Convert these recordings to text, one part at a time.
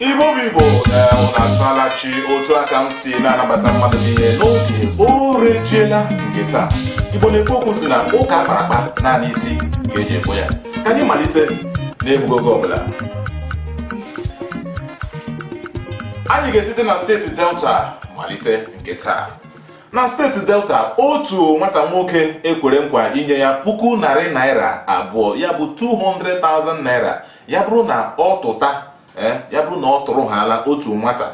igbo bụ igbo na-enwụ na asalachi otu aka m si na-anabata mmadụ niile n'oge orejiela nke taa igbo na-ekwu okwu sị na ụka akpara akpa naanị isi ka e ji ekwe ya ka anyị malite n'egbughị oge ọbụla anyị ga-esite na steeti delta malite nke taa Na steeti Delta, otu nwata nwoke e kwere nkwa inye ya puku narị naira abụọ ya bụ 200,000 naira ya bụrụ na ọ tụta eh, ya bụrụ na ọ tụrụ haala otu nwata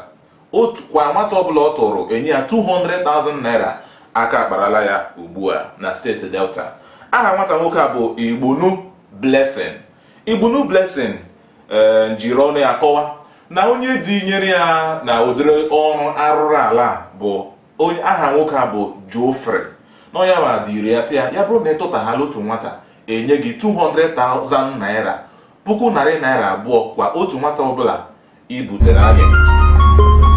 kwa nwata ọbụla ọ tụrụ enye ya 200,000 naira aka akparala ya ugbu a na steeti Delta aha nwata nwoke a bụ Igbunu Blessing Igbunu Blessing ee jiri ọnụ ya kọwa na onye dinyere ya na ụdịrị ọrụ arụrụ ala a bụ aha nwoke a bụ Geoffrey na ọ ya nwa diri ya sị ya ya bụrụ na ị tụta haala otu nwata enye gị 200,000 naira puku narị naira abụọ kwa otu nwata ọbụla i butere anyị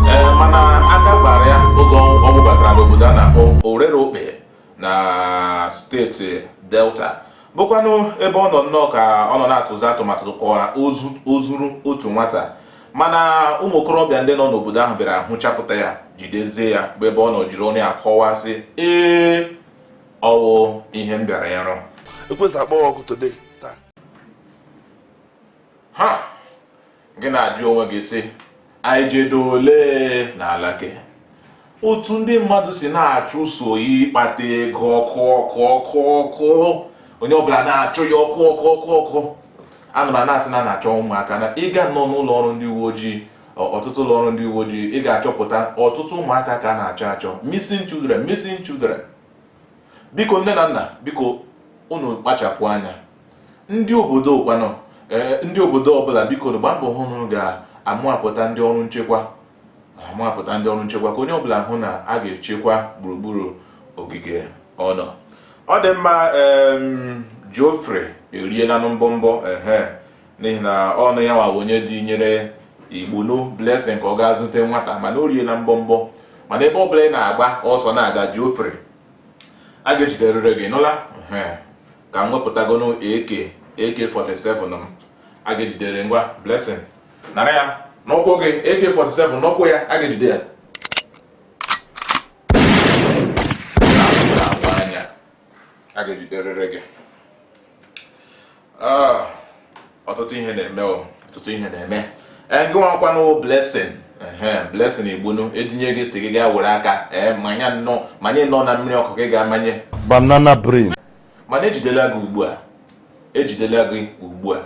ee mana aka kpara ya oge ọ ọ gbatara n'obodo a na-akpọ orerokpe na steeti delta bụkwanụ ebe ọ nọ nnọọ ka ọ nọ na-atụzi atụmatụ ka o zuru otu nwata mana ụmụ okorobịa ndị nọ n'obodo ahụ bịara hụchapụta ya jidezie ya bụ ebe ọ nọ jiri ọnụ ya kọwasị ee ọ wụ ihe m bịara ịrụ ekwesị akpọwa ọkụ today taa ha gị na-ajụ onwe gị sị anyị jedo ole n'ala gị otu ndị mmadụ si na-achụso ịkpata ego ọkụ ọkụ ọkụ ọkụ onye ọbụla na-achụ ya ọkụ ọkụ ọkụ ọkụ anụrụ a na-asị na a na-achọ ụmụaka na ị gaa nọ n'ụlọ ọrụ ndị uwe ojii ọ- ọtụtụ ụlọ ọrụ ndị uwe ojii ị ga-achọpụta ọtụtụ ụmụaka ka a na-achọ achọ missing children missing children biko nne na nna biko unu kpachapụ anya ndị obodo kwanụ ee ndị obodo ọbụla biko nụ gbaa mbọ hụ na unu ga-amụapụta ndị ọrụ nchekwa amụapụta ndị ọrụ nchekwa ka onye ọbụla hụ na a ga-echekwa gburugburu ogige ọ nọ ọ dị mma em, Geoffrey erielanụ mbọmbọ ehe n'ihi na ọ bụ ya nwa bụ onye dinyere igbunu blessing ka ọ gaa zute nwata mana o riela mbọmbọ mana ebe ọbụla ị na-agba ọsọ na-aga geoffrey a ga-ejiderịrị gị ị nụla Ehe. ka m wepụtagonu ak ak47 m a ga-ejidere ngwa blessing nara ya n'ụkwụ gị ak47 n'ụkwụ ya a ga-ejide ya Na-agba anya. a ga-ejiderịrị gị ah, ọtụtụ ihe na-eme ọtụtụ ihe na-eme eh, gị nwakwanụ blessing blessing igbunu etinye gị sị gị gaa were aka eh, manye nnọọ manye nnọọ na mmiri ọkụ gị gaa manye banana brain mana ejidela gị ugbu a ejidela gị ugbu a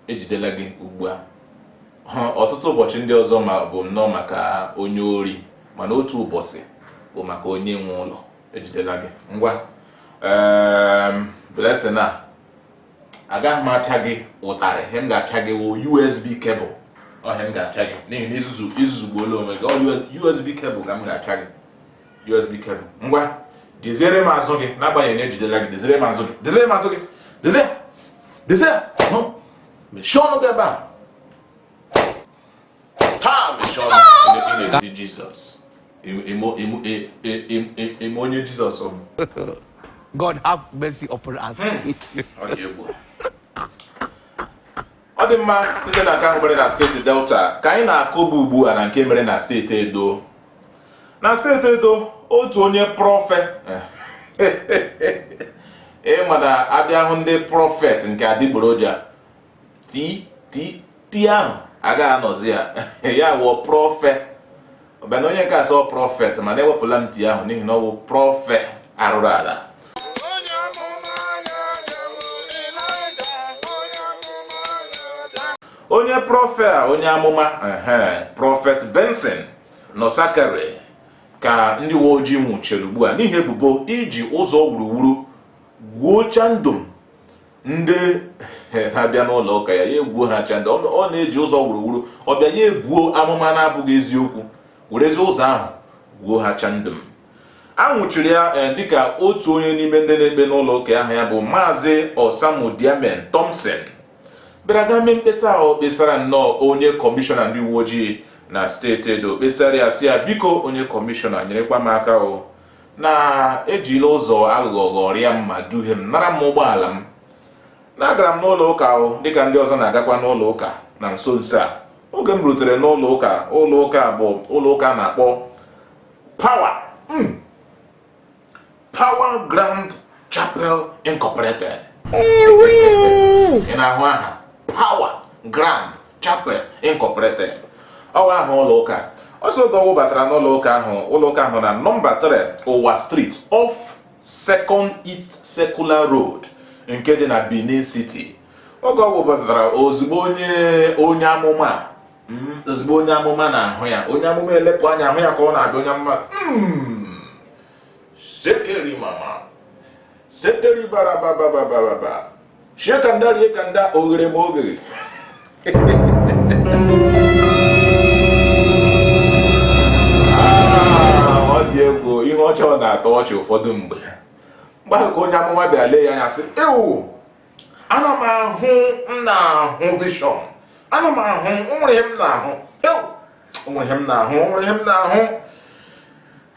ejidela gị ugbu a ọtụtụ ụbọchị ndị ọzọ bụ nnọọ maka onye ori mana otu ụbọchị bụ maka onye nwe ụlọ ejidela gị ngwa Ehm, blessing a agaghị m apịa gị ụtarị ihe m ga-apịa gị wụ usb cable ọ ihe m ga-apịa gị n'ihi na i zuzu i zuzugbuola onwe gị ọ usb cable ka m ga-apịa gị usb cable ngwa deziere m azụ gị n'agbanyeghị na ejidela gị deziere m azụ gị deziere m azụ gị dezie dezie hụ mechie ọnụ gị ebe a taa mechie ọnụ ị na-ezi jizọs ị ma onye jizọs ọ bụ God have mercy upon us. ọ dị mma site na nke ahụ mere na steeti delta ka anyị na-akụba ugbu a na nke mere na steeti edo na steeti edo otu onye prọfe ị ma na a bịa hụ ndị prọfet nke adịgboroja ti ti ti ahụ agaghị anọzi ya ya wụọ prọfe ọ bịa na onye nke asọ prọfet mana ewepụla m ti ahụ n'ihi na ọ bụ prọfe arụrụala onye prọfe a onye amụma ehe prọfet benson nosakhare ka ndị uwe ojii nwụchiri ugbu a n'ihi ebubo iji ụzọ wuruwuru gwuo chandum ndị na-abịa n'ụlọ ụka ya ya egwuo ha chandum ọ na-eji ụzọ wuruwuru ọ bịa ya ebuo amụma na-abụghị eziokwu werezi ụzọ ahụ gwuo ha chandum a nwụchiri ya eh, dịka otu onye n'ime ndị na-ekpe n'ụlọ ụka ahụ ya bụ maazị Osamudiamen Thompson bịara gaa mee mkpesa ahụ kpesara nnọọ onye kọmishọna ndị uwe ojii na steeti Edo kpesara ya sị ya biko onye kọmishọna nyerekwa m aka o na e jila ụzọ aghụghọ ghọrịa m ma duhie m nara m ụgbọala m na agara m n'ụlọ ụka ahụ dịka ndị ọzọ na-agakwa n'ụlọ ụka na nso nso a oge m rutere n'ụlọ ụka ụlọ ụka bụ ụlọ ụka a na-akpọ power hmm. power grand Chapel Incorporated ị na-ahụ aha Power Grand Chapel Incorporated ọ wụ aha ụlọ ụka ọ sị oge ọ wụbatara n'ụlọ ụka ahụ ụlọ ụka ahụ na nọmba 3 Uwa Street off Second East Circular Road nke dị na Benin City oge ọ wụbatara ozugbo onye onye amụma hmm, ozugbo onye amụma na-ahụ ya onye amụma elepụ anya ahụ ya ka ọ na-abịa onye amụma hmm. sekeri mama sekeri bara baba baba baba shekanda riekanda oghere ma oghere Ah, ọ dị egwu ihe ọchọ na-atọ ọchị ụfọdụ mgbe mgbe ahụ ka onye amụma bịara lee ya anya sị ewu ana m ahụ m na-ahụ vision ana m ahụ nwere ihe m na-ahụ ewu nwere ihe m na-ahụ nwere ihe m na-ahụ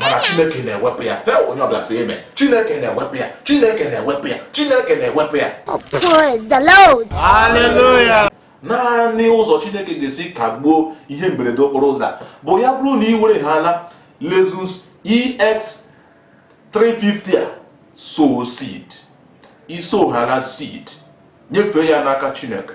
mana chineke na-ewepụ ya ee onye ọbụla sị amen chineke na-ewepụ ya chineke na-ewepụ ya chineke na-ewepụ ya naanị ụzọ chineke ga-esi kagbuo ihe mberede okporo ụzọ a bụ ya bụrụ na ị were ha na Lexus ex 350 a sow seed ị sow ha na seed nyefee ya n'aka chineke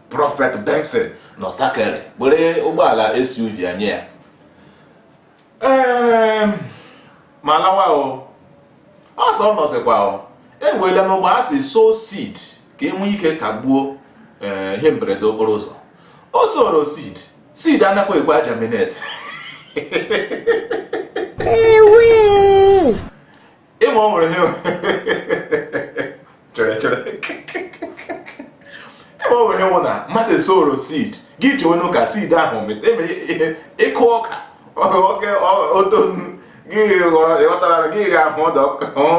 Prọfet Benson Nosakhare were ụgbọala SUV a nye ya ee ma lawa o ọ sọ ọ nọzikwa o ewela n'ụgbọ a si sow seed ka e nwee ike kagbuo ee ihe mberede okporo ụzọ o soro seed seed anakwa ekwe a-germinate ị ma o nwere chere chere ị ma o nwere nwụ na mmadụ esoro seed gị ji anya hụ ka seed ahụ eme ihe ị kụọ ọka oge o too gị ghọtara gị ga ahụ ọdọ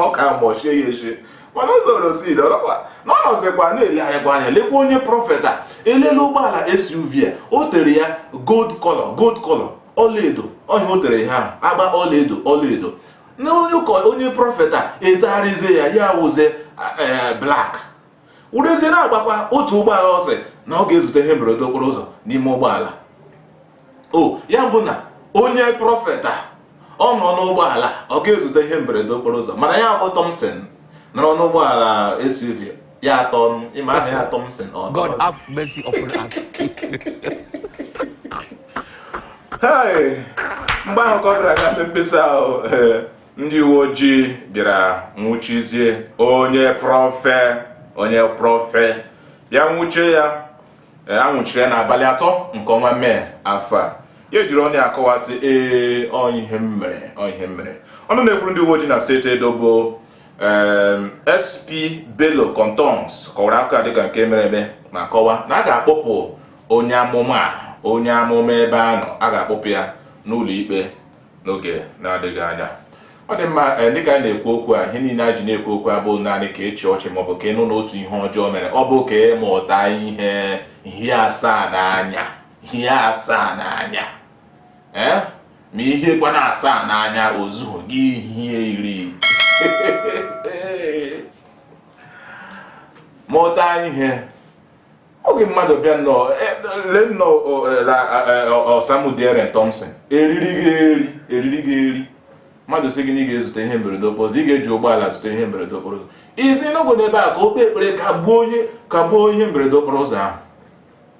ọka mgbọchie ya echi mana o soro seed ọzọkwa na ọ nọzikwa na-elegharịkwa anya lekwa onye prọfet a elele ụgbọala SUV a o tere ya gold color gold color ọlaedo ọ ihe o tere ihe ahụ agba ọlaedo ọlaedo na onye ụkọ onye prọfet a etegharịzie ya ya wụzie eh, black werezie na-agbakwa otu ụgbọala ọ sị na ọ ga-ezute ihe mberede okporo ụzọ n'ime ụgbọala o ya bụ na onye prọfet a ọ nọ n'ụgbọala ọ ga-ezute ihe mberede okporo ụzọ mana ya bụ Thompson nọrọ n'ụgbọala SUV ya atọ ọnụ ịma aha ya Thompson o God have mercy upon us. Hey! mgbe ahụ ka ọ gara gafe mkpesa ahụ eh, ndị uwe ojii bịara nwụchizie onye prọfet onye prọfet a nwụchie ya eh, a nwụchiri ya n'abalị atọ nke ọnwa Mee afọ a ya ejiri ọnụ ya akọwa sị ee ọ ihe m mere ọ ihe m mere ọnụ na-ekwuru ndị uwe ojii na steeti Edo bụ SP Bello Kontongs kọwara akụkọ dịka nke mere eme ma kọwaa na a ga-akpọpụ onye amụma onye amụma ebe a nọ a ga-akpọpụ ya n'ụlọ ikpe n'oge na-adịghị anya ọ dị mma eh, dịka anyị na-ekwu okwu a ihe niile a ji na-ekwu okwu abụ naanị ka ị chịa ọchị maọbụ ka ị nụ na otu ihe ọjọọ mere ọ bụ ka ị mụta ihe ihe asaa n'anya ihe asaa n'anya ee eh? ma i hiekwana asaa n'anya o zughị gị i hie iri mụta ihe oge mmadụ bịa nnọọ e- lee nnọọ o- e- la- e- e- osamudiamen thompson eriri gị eri eriri gị eri mmadụ sị gị na ị ga-ezute ihe mberede okporo ụzọ ị ga-eji ụgbọala zute ihe mberede okporo ụzọ izi n'obodo ebe a ka o kpee ekpere kagbuo onye kagbuo ihe mberede okporo ụzọ ahụ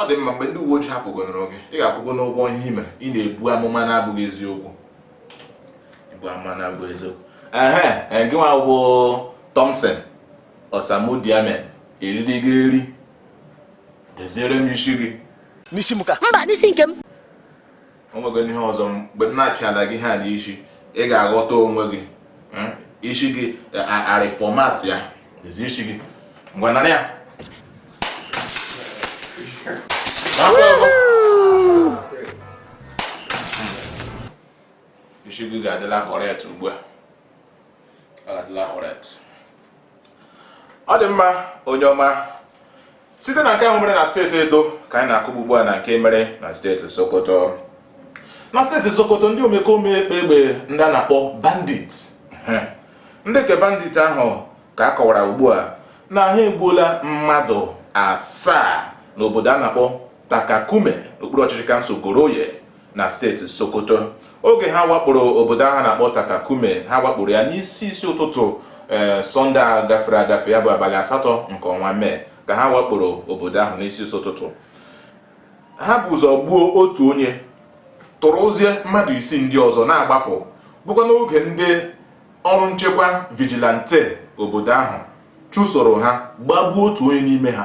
ọ dị mma mgbe ndị uwe ojii kpụgonụrụ gị ị ga-akwụgonụ ụgwọ ihe i mere ị na-ebu amụma na-abụghị eziokwu ibu amụma na-abụghị eziokwu ehe eh, gị nwa bụ Thompson Osamudiame eriri gị eri deziere m isi gị n'isi m ka mba n'isi nke m o nwego ihe ọzọ mgbe m na-apịala gị ihe n'isi ị ga-aghọta onwe gị hmm? isi gị a reformat ya dezie isi gị ngwa nara ya isi gị ga-adịla correct ugbu a ọ dị mma onye ọma site na nke ahụ mere na steeti edo ka anyị na-akụgbu ugbu a na nke mere na steeti sokoto na steeti sokoto ndị omekome kpa egbe ndị a na-akpọ bandit ndị nke bandit ahụ ka a kọwara ugbu a na ha egbuola mmadụ asaa n'obodo a na-akpọ Takakume n'okpuru ọchịchị kansụl Goronyo na steeti Sokoto oge ha wakporo obodo ahụ na-akpọ Takakume ha wakporo ya n'isi isi ụtụtụ ee eh, sọnde a gafere agafe ya bụ abalị asatọ nke ọnwa mee ka ha wakporo obodo ahụ n'isi isi ụtụtụ ha bu ụzọ gbuo otu onye tọrọzie mmadụ isii ndị ọzọ na-agbapụ bụkwa n'oge ndị ọrụ nchekwa vigilante obodo ahụ chụsoro ha gbagbuo otu onye n'ime ha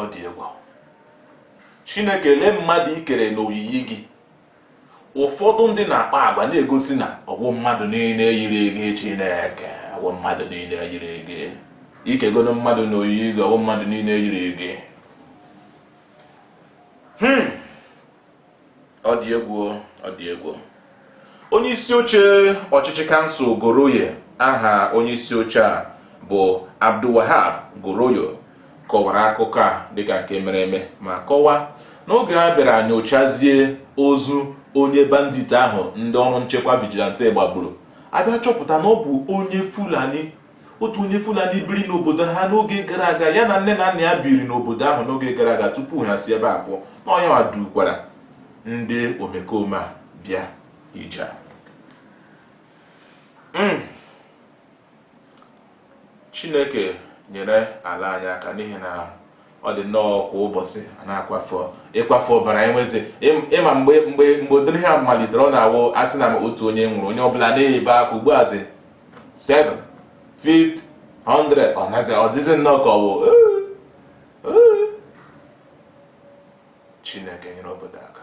ọ dị egwu chineke lee mmadụ i kere n'oyiyi gị ụfọdụ ndị na-akpa agwa na-egosi na ọ bụghị mmadụ niile yiri gị chineke ọ bụghị mmadụ niile yiri gị i kegonụ mmadụ n'oyiyi gị ọ bụghị mmadụ niile yiri gị hmm. ọ dị egwu o, ọ dị egwu o. onye isi oche ọchịchị kansụl goronyo aha onye isi oche a bụ abdulwahab goronyo kọwara akụkọ a dịka nke mere eme ma kọwaa n'oge a bịara nyochazie ozu onye bandit ahụ ndị ọrụ nchekwa vigilante gbagburu a bịa chọpụta na ọ bụ onye fulani otu onye Fulani biri n'obodo ha n'oge gara aga ya na nne na nna ya biri n'obodo ahụ n'oge gara aga tupu ha si ebe a pụọ na ọ ya nwa dukwara ndị omekome a bịa ije a. Mm. Chineke nyere ala anyị aka n'ihi na ọ dị nnọọ kwa ụbọchị a na-akwafu ịkwafu ọbara enwezi ị ma mgbe mgbe mgbe ụdịrị ihe a malitere ọ na-awụ a sị na otu onye nwụrụ onye ọbụla na-ebe akwa ugbu azi 7 50 100 ọ nazi ọ dịzi nnọọ ka ọ bụ chineke nyere obodo aka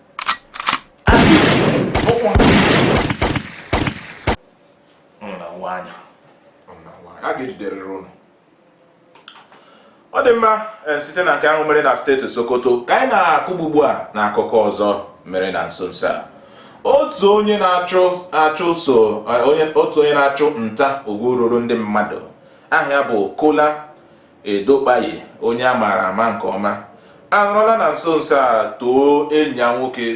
a ga-ejiderịrị ụnụ ọ dị mma eh, site na nke ahụ mere na steeti Sokoto ka anyị na-akụgbu ugbu a na akụkọ ọzọ mere na nso nso a otu onye na-achụ achụso eh, otu onye na-achụ nta ugwu ruru ndị mmadụ aha ya bụ Kola Edokpayi, onye a maara ama nke ọma, anọrọla na nso nso a too enyi ya nwoke,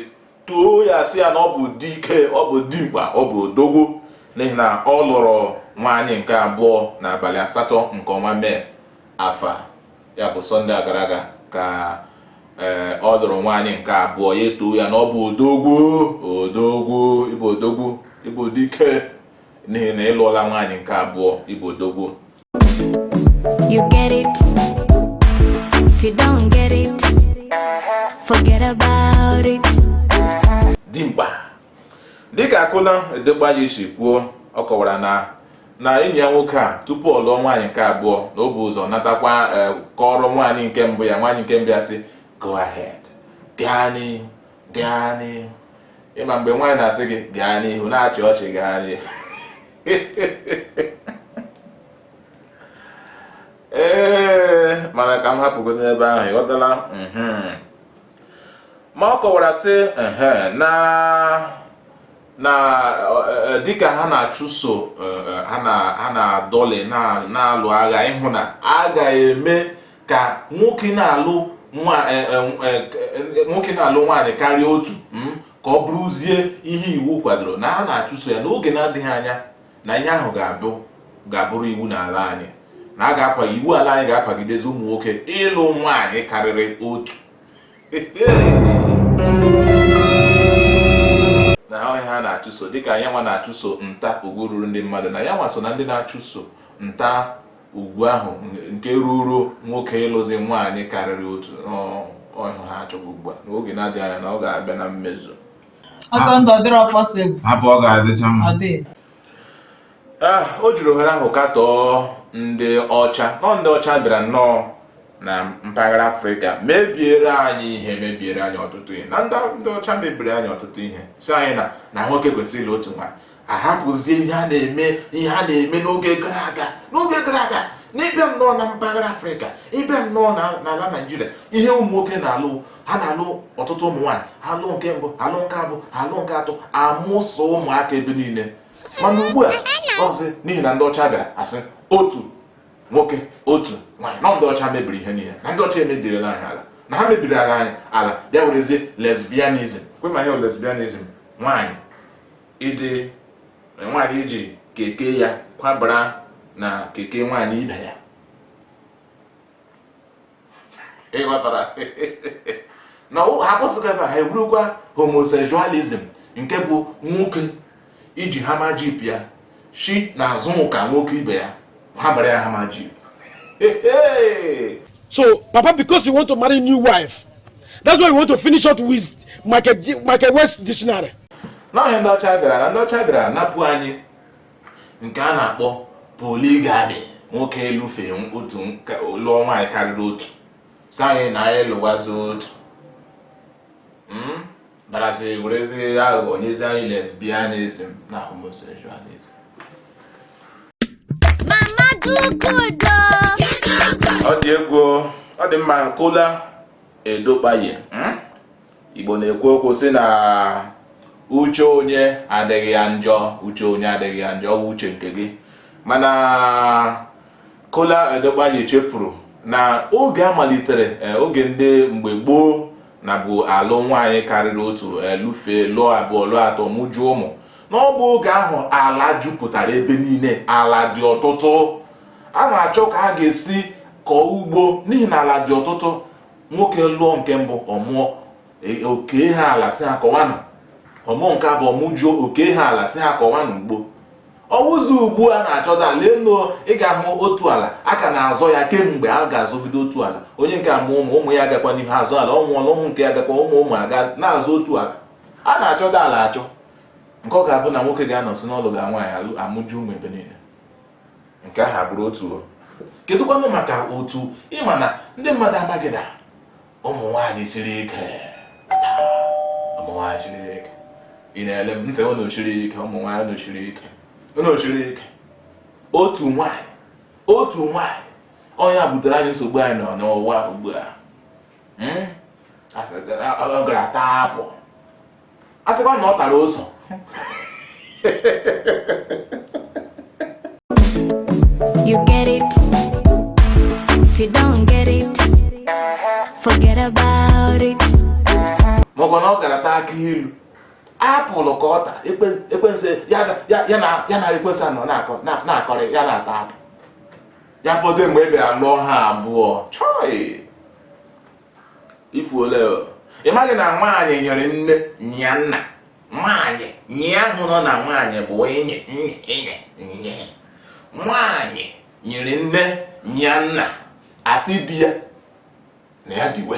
too ya sị ya na ọ bụ dike, ọ bụ dimkpa, ọ bụ odogwu n'ihi na ọ lụrụ nwaanyị nke abụọ n'abalị asatọ nke ọnwa Mee afọ a. Ya bụ Sọnde a gara aga ka ee ọ lụrụ nwaanyị nke abụọ, ya etoo ya na ọ bụ odogwu, odogwu, ị bụ odogwu, ị bụ dike n'ihi na ị lụọla nwaanyị nke abụọ, ị bụ odogwu. You get it? If you don't get it, forget about it. dimkpa dịka Kola Edokpayi si kwuo ọ kọwara na na enyi ya nwoke a tupu ọ lụọ nwaanyị nke abụọ na o bu ụzọ natakwa eh, kọrọ nwaanyị nke mbụ ya nwaanyị nke mbụ ya sị go ahead gaa n'ihu gaa n'ihu ị ma mgbe nwaanyị na-asị gị gaa n'ihu na-achị ọchị gaa n'ihu ee mana ka m hapụgodu ebe ahụ ị ghọtala mhm. ma ọ kọwara sị na na e, e, dịka ha na-achụso e, ha na-adọlị na-alụ agha ịhụ na a ga-eme ka nwoke na-alụ nwoke na-alụ nwaanyị karịa otu hmm? ka ọ bụrụzie ihe iwu kwadoro na ha na-achụso ya n'oge na-adịghị anya na ihe ahụ ga-abụ ga-abụrụ iwu n'ala anyị na a ga-akwa iwu ala anyị ga-akwagidezi ụmụ nwoke ịlụ nwaanyị karịrị otu na ọ ihe a ha na-achụso dịka ya nwa na-achụso nta ugwu ruru ndị mmadụ na ya nwa so na ndị na-achụso nta ugwu ahụ nke ruuru nwoke ịlụzi nwaanyị karịrị otu ọ ihe ha chọgha ugbu a n'oge na-adịghị anya na ọ ga-abịa na mmezu ọsọ ndụ ọ dịrọ possible hapụ ọ ga-adịcha mma ọ dị Ah, o jiri ohere ahụ katọọ ndị ọcha nọ ndị ọcha bịara nnọọ na mpaghara afrịka mebiere anyị ihe mebiere anyị ọtụtụ ihe na ndị ndị ọcha mebiri anyị ọtụtụ ihe sị anyị na na nwoke kwesịrị ịlụ otu nwaanyị ahapụzie ihe a na-eme ihe a na-eme n'oge gara aga n'oge gara aga n'ịbịa nnọọ na mpaghara afrịka ịbịa nnọọ na- n'ala naijiria ihe ụmụ nwoke na-alụ ha na-alụ ọtụtụ ụmụ nwaanyị alụ nke mbụ alụ nke abụọ alụ nke atọ amụsa ụmụaka ebe niile mana ugbu a zi n'ihi na ndị ọcha bịara asị otu nwoke otu nwaanyị na ndị ọcha mebiri ihe niile na ndị ọcha emebirila anyị ala na ha mebirila anyị ala bịa werezie lesbianism kwa ị ma ihe bụ lesbianism nwaanyị iji nwaanyị iji keke ya kwabara na keke nwaanyị ibe ya ị ghọtara na ha akwụsịghị ebe ha eburukwa homosexualism nke bụ nwoke iji hummer jeep ya shi na azụ nke nwoke ibe ya ha bara ya hummer jeep so papa because you want to marry new wife that's why you want to finish us with michael west dictionary n'ihi na ndị ọcha bịara na ndị ọcha bịara napụ anyị nke a na-akpọ polygamy nwoke ịlụfe otu lụọ nwaanyị karịrị otu sị anyị na anyị lụwazi otu hmm? Bịarazi werezi aghụghọ nyezi anyị lesbianism na homosexualism. Mama Dukudo. Ọ dị egwu o. ọ dị mma kola edokpaye hmm? Igbo na-ekwu okwu sị na uche onye adịghị ya njọ uche onye adịghị ya njọ ọ bụ uche nke gị mana kola edokpaye chefuru na oge a malitere eh, oge ndị mgbe gboo na bụ alụ nwaanyị karịrị otu ịlụfe lụọ abụọ lụọ atọ mụjuo ụmụ na ọ bụ oge ahụ ala jupụtara ebe niile ala dị ọtụtụ a na-achọ ka a ga-esi kọọ ugbo n'ihi na ala dị ọtụtụ nwoke lụọ nke mbụ ọ mụọ e, o kee ha ala sị ha kọwanụ ọ mụọ nke abụọ mụjuo o kee ha ala sị ha kọwanụ ugbo ọ wụzi ugbu a na-achọta ala lenụ ị ga-ahụ otu ala a ka na-azọ ya kemgbe a ga-azọgide otu ala onye nke a mụọ ụmụ ụmụ ya agakwa n'ihu azọ ala ọ nwụọla ụmụ nke ya agakwa ụmụ ụmụ a ga na-azọ otu ala a na-achọta ala achọ nke ọ ga-abụ na nwoke ga-anọzi na-alụga nwaanyị alụ amụju ụmụ ebe niile nke ahụ abụrụ otu kedụkwanụ maka otu ị ma na ndị mmadụ amaghị na ụmụ nwaanyị siri ike ụmụ nwaanyị siri ike ị na-ele m m sị unu siri ike ụmụ nwaanyị unu siri ike unu siri ike otu nwaanyị otu nwaanyị onye a butere anyị nsogbu anyị nọ n'ụwa ugbu a Hmm? Asị- ọ gara taa apple a sịkwa na ọ tara ụzọ You get it. If you don't get it, forget about it. maọbụ na ọ gara taa akị ilu apple ka ọ tara ekwe- ekwensu ya ga- ya- ya na ya na ekwensu anọ na-akọ na- na-akọrị ya na-ata apple ya fọzie mgbe ị bịara lụọ ha abụọ chọị ifuole ị maghị na nwaanyị nyere nne nya nna nwaanyị nye ahụ nọ na nwaanyị bụ enyi nye enyi nye nwaanyị nyere nne nya nna asị di ya na ya diwe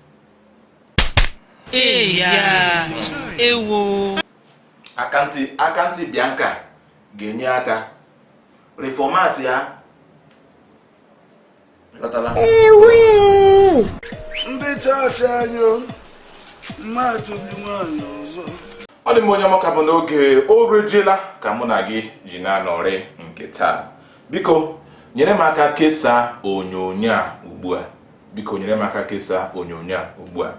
Eya, ewo. Aka ntị Bianca ga-enye aka reformat ya ghọtara ndị chọọchị anyị mmadụ dị nwaanyị ọzọ ọ dị m onye ọmaka bụ n'oge o rejela ka mụ na gị ji na-anọrị nke taa biko nyere m aka kesaa onyonyo a ugbu a biko nyere m aka kesaa onyonyo a ugbu a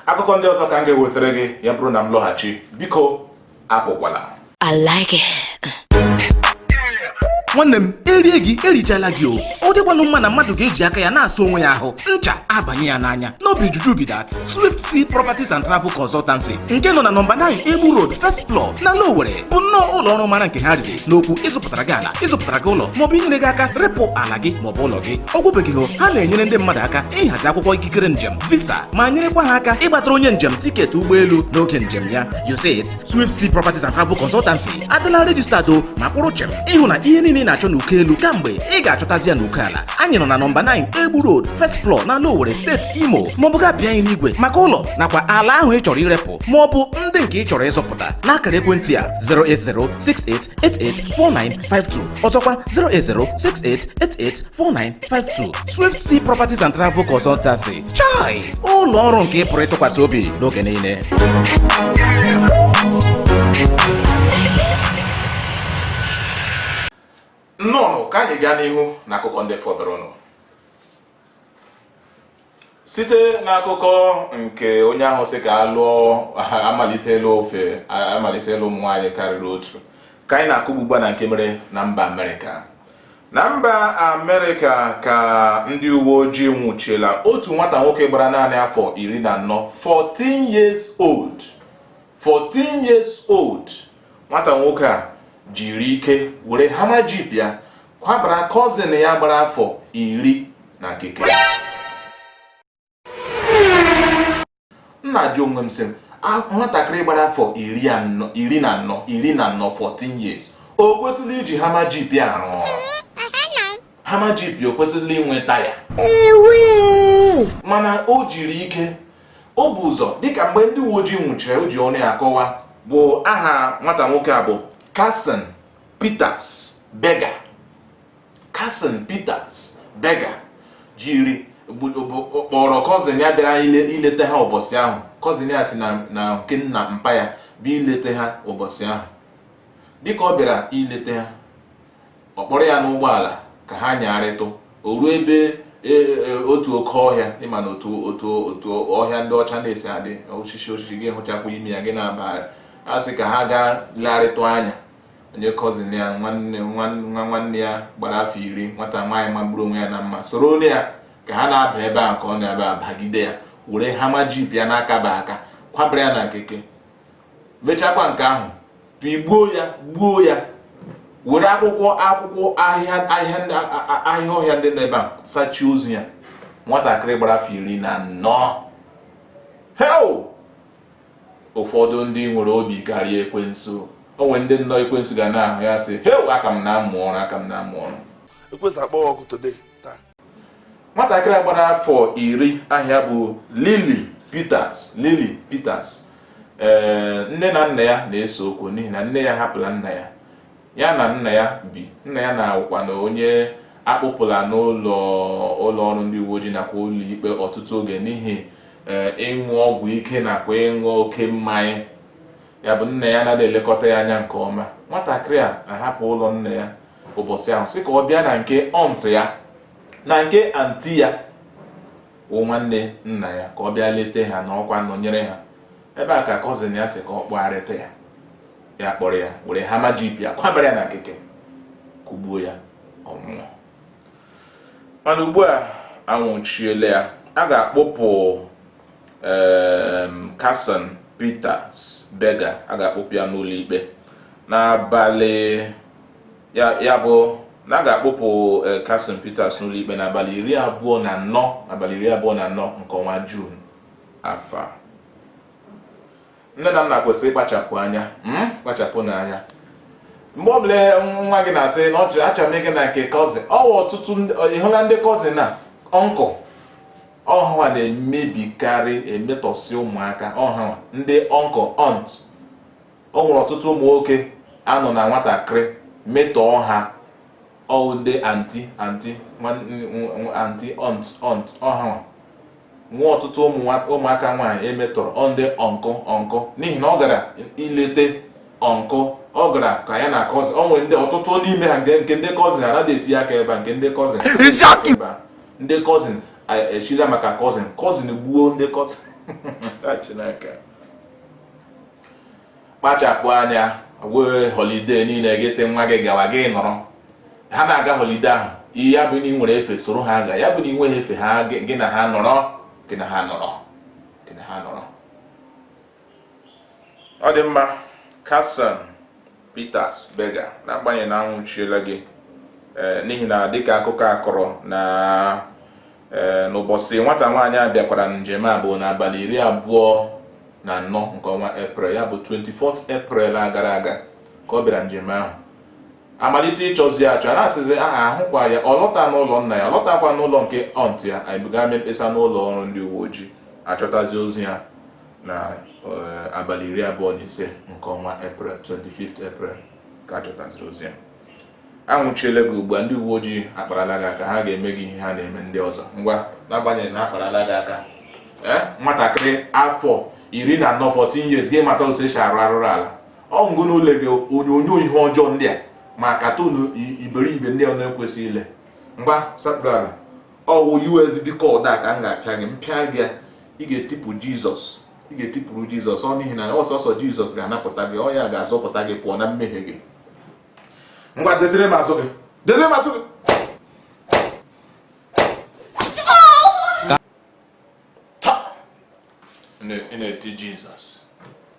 akụkọ ndị ọzọ ka m ga-ewetara gị ya bụrụ na m lọghachi biko apụkwala I like it. nwanne m erie gị erichala gị o ọ dịkwanụ mma na mmadụ ga-eji aka ya na-asa onwe ya ahụ ncha abanye ya n'anya no be juju be that swift sea properties and travel consultancy nke nọ na nọmba 9 egbu road first floor n'ala owere bụ nnọọ ụlọ ọrụ mara nke ha riri n'okwu ịzụpụtara gị ala ịzụpụtara gị ụlọ maọbụ inyere gị aka repụ ala gị maọbụ ụlọ gị ọ gwụbeghị o ha na-enyere ndị mmadụ aka ịhazi akwụkwọ ikikere njem visa ma nyerekwa ha aka ịgbatara onye njem tiketi ụgbọelu n'oge njem ya you see it Swift Sea Properties and Travel Consultancy adịla registered o ma kwụrụ chem ịhụ na ihe niile ị na-achọ n'uko elu kamgbe ị ga-achọtazi ya n'uko ala anyị nọ na nọmba 9 Egbu Road first floor n'ala Owere steeti Imo maọbụ gị abịa anyị n'igwe maka ụlọ nakwa ala ahụ ị chọrọ irepụ ma ọ bụ ndị nke ị chọrọ ịzụpụta n'akara ekwentị a 08068884952 ọzọkwa 08068884952 Swift Sea Properties and Travel Consultancy chai ụlọ ọrụ nke ị pụrụ ịtụkwasị obi n'oge niile nnọọ ka anyị gaa n'ihu n'akụkọ ndị fọdụrụnụ site n'akụkọ nke onye ahụ sị ka a lụọ amalitela ofe amalitela ụmụ nwaanyị karịrị otu ka anyị na-akụ ugbu a na nke mere na mba amerịka na mba amerịka ka ndị uwe ojii nwụchiela otu nwata nwoke gbara naanị afọ iri na anọ 14 years old nwata nwoke a jiri ike were Hummer jeep ya kwabara cousin ya gbara afọ iri na keke m na-ajụ onwe m sị nwatakịrị gbara afọ iri iri na anọ 14 years o kwesịrị iji Hummer jeep ya arụ ọrụ Hummer jeep o kwesịrị inwe taya mana o jiri ike o bu ụzọ dịka mgbe ndị uwe ojii nwụchiri o ji ọnụ ya akọwa bụ aha nwata nwoke a bụ Carson Peters Berger Carson Peters Berger jiri kpọrọ cousin ya bịara ileta ha ụbọchị ahụ cousin ya si na nke nna mpa ya bịa ileta ha ụbọchị ahụ dịka ọ bịara ileta ha ọ kpọrọ ya n'ụgbọala ka ha nyagharịtụ o ruo ebe e, e, otu oke ọhịa ị ma na otu otu otu ọhịa ndị ọcha na-esi adị osisi osisi gị hụchakwa ime ya gị na-abagharị a sị ka ha gaa legharịtụ anya onye cousin ya nwanne nwa nwanne ya gbara afọ iri nwata nwaanyị magburu onwe ya na mma soronụ ya ka ha na-aba ebe a ka ọ na-aba abagide ya were Hummer jeep ya na-akaba aka kwabara ya na keke mechakwa nke ahụ pigbuo ya gbuo ya were akwụkwọ akwụkwọ ahịhịa ahịhịa ọhịa ndị nọ ebe a sachie ozu ya nwatakịrị gbara afọ iri na anọ hei ụfọdụ ndị nwere obi karịa ekwensu o nwere ndị nnọọ ekwensu ga na-ahụ ya sị hei aka m na-amụ ọrụ aka m na-amụ ọrụ ekwensu akpọghị ọkụ today nwatakịrị a gbara afọ iri aha ya bụ Lily Peters Lily Peters ee nne na nna ya na-ese okwu n'ihi na nne ya hapụla nna ya ya na nna ya bi nna ya na-awụkwa na onye a kpụpụla n'ụlọ ụlọ ọrụ ndị uwe ojii nakwa ụlọ ikpe ọtụtụ oge n'ihi ee ịṅụ ọgwụ ike nakwa ịṅụ oke mmanya ya bụ nna ya anaghị elekọta ya anya nke ọma nwatakịrị a ahapụ ụlọ nna ya ụbọchị ahụ sị ka ọ bịa na nke aunt ya na nke aunty ya wụ nwanne nna ya ka ọ bịa leta ha nọkwa nọnyere ha ebe a ka cousin ya sị ka ọ kpọgharịtụ ya ya kpọrọ ya were Hummer jeep ya kwabara ya na keke kụgbuo ya ọ nwụọ mana ugbu a anwụchiela ya a ga-akpụpụ Carson Peters Berger a ga-akpụpụ ya n'ụlọ ikpe n'abalị ya bụ na a ga-akpụpụ eh, Carson Peters n'ụlọikpe n'abalị iri abụọ na anọ abalị iri abụọ na anọ nke ọnwa Juun afọ a nne na nna kwesịrị ịkpachapụ anya hmm? kpachapụnụ anya mgbe ọbụla nwa gị na-asị na ọ chọrọ achọrọ m ịga na nke cousin ọ wụ ọtụtụ ị hụla ndị cousin na uncle ọ ha nwa na-emebikarị emetọsị ụmụaka ọ ha nwa ndị uncle aunt o nwere ọtụtụ ụmụ nwoke a nọ na nwatakịrị metọọ ha ọ wụ ndị aunty aunty aunty aunt aunt ọ ha nwee ọtụtụ ụmụaka nwaanyị e metọrọ ọ ndị uncle uncle n'ihi na ọ gara ilete uncle ọ gara ka ya na cousin o nwere ndị ọtụtụ n'ime ha nke ndị cousin ha anaghị etinye aka ebe a nke ndị cousin ndị cousin echila maka cousin cousin gbuo ndị cousin kpachapụ anya ọ wụghị holiday niile ị ga-asị nwa gị gawa gị nọrọ ha na-aga holiday ahụ ya bụ na i nwere efe soro ha ga ya bụ na i nweghị efe ha gị na ha nọrọ gị na ha nọrọ gị na ha nọrọ ọ dị mma Carson Peters-Berger n'agbanyeghị na a nwụchiela gị eh, n'ihi na dịka akụkọ a kọrọ na eh, n'ụbọchị nwata nwaanyị a bịakwara njem a bụ n'abalị iri abụọ na anọ nke ọnwa eprel ya bụ 24th April a gara aga ka ọ bịara njem ahụ a malite ịchọzi achọ a na-asịzi aha ahụkwa ya ọ lọta n'ụlọ nna ya ọ lọtakwa n'ụlọ nke aunt ya anyị buga mee mkpesa n'ụlọ ọrụ ndị uwe ojii a chọtazi ozi ya na eh, abalị iri abụọ na ise nke ọnwa eprel 25th April ka a chọtaziri ozi ya a nwụchiela gị ugbu a ndị uwe ojii akparala gị aka ha ga-eme gị ihe ha na-eme ndị ọzọ ngwa n'agbanyeghị na a kparala gị aka eh, nwatakịrị afọ iri na anọ 14 years gị mata otu e si arụ arụrụala ọ ngụ n'ụlọ gị onyonyo ihe ọjọọ ndị a ma cartoon iberibe ndị ọ na-ekwesịghị ile ngwa sapụrụ ala ọ wụ USB cord a ka m ga-apịa gị m pịa gị ya ị ga-etipụ Jizọs ị ga-etipụrụ Jizọs o n'ihi na ọ sọọsọ Jizọs ga-anapụta gị ọ ya ga-azọpụta gị pụọ na mmehie gị ngwa dezire m azụ gị dezire m azụ gị ị na-eti Jizọs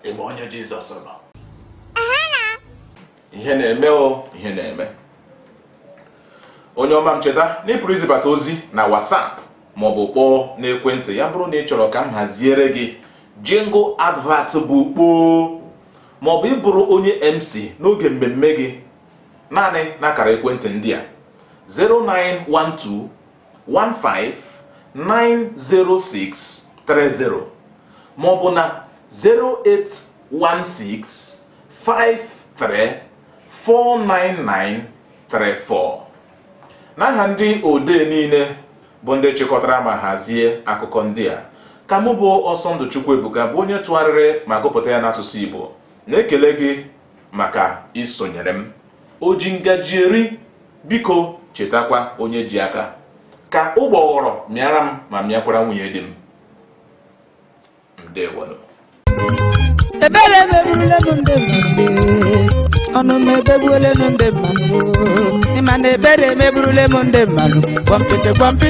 ebe onye Jizọs nọ ihe na-eme o ihe na-eme onye ọma m cheta na ị pụrụ izibata ozi na WhatsApp ma ọ bụ kpọọ n'ekwentị ya bụrụ na ị chọrọ ka m haziere gị jingle advert bụ kpoo ma ọ bụ ịbụrụ onye MC n'oge mmemme gị naanị n'akara ekwentị ndị a 0912 1590630 ma ọ bụ na 08165349934 n'aha ndị odee niile bụ ndị chịkọtara ma hazie akụkọ ndị a ka mụ bụ Ọsọndụ Chukwuebuka bụ onye tụgharịrị ma gụpụta ya n'asụsụ igbo na-ekele gị maka isonyere m oji ngaji eri Biko chetakwa onye ji aka. Ka ụgbọghọrọ mịara m ma mịakwara nwunye di m. Ndewonụ. ebere emegbuola m ndị mmadụ ọnụ m ebegbuola m ndị mmadụ ịma na ebere emegbuole m ndị mmadụ gwọmpịtị gwọmpịtị